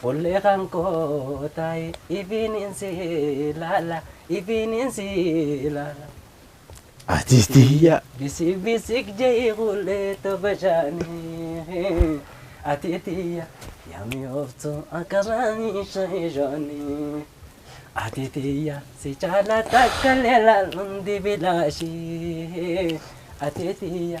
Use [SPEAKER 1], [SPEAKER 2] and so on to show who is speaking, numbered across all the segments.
[SPEAKER 1] Fullee kan koo taa'i ifiinin si ilaala ifiinin si ilaala. Ati
[SPEAKER 2] tiyya. Bisik
[SPEAKER 1] bisik je'i hullee to bashaanii ati tiyya yaa mi'ooftu akka maamii sha'i shoonii. Ati tiyya si caala takkallee laaluun dibilaashii ati tiyya.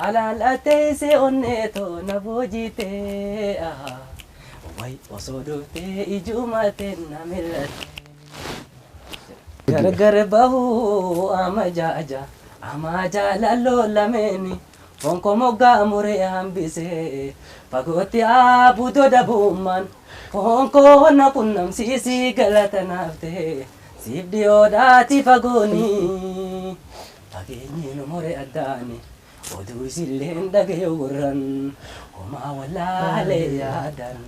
[SPEAKER 1] Halaal ajjeesee onnee too na boojiitee ahaa Way osoo dhuftee ijuuma teenna mil'attee Gargar bahuu amajaaja amaa jaalalloo lameeni Foon koo moggaa muree hambisee fagootti aabudoo dabummaan Foon koo na qunnamsiisii galata naaf ta'ee siif dhiyoodhaatii fagoonii Fageenyi nu more addaan oduu isilleen dhagayu gurran homaa wallaale yaadan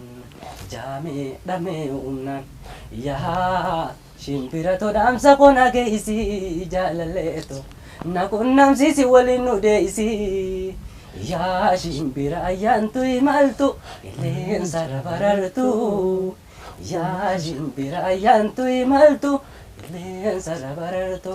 [SPEAKER 1] jaamee dhamee humnaan yaa shimbira to dhaamsa koo na geeysi jaalalee to na qunnamsiisi waliin nu deeysi yaa shimbira ayyaantu imaltu qilleensa irra barartu yaa shimbira ayyaantu imaltu qilleensa irra barartu.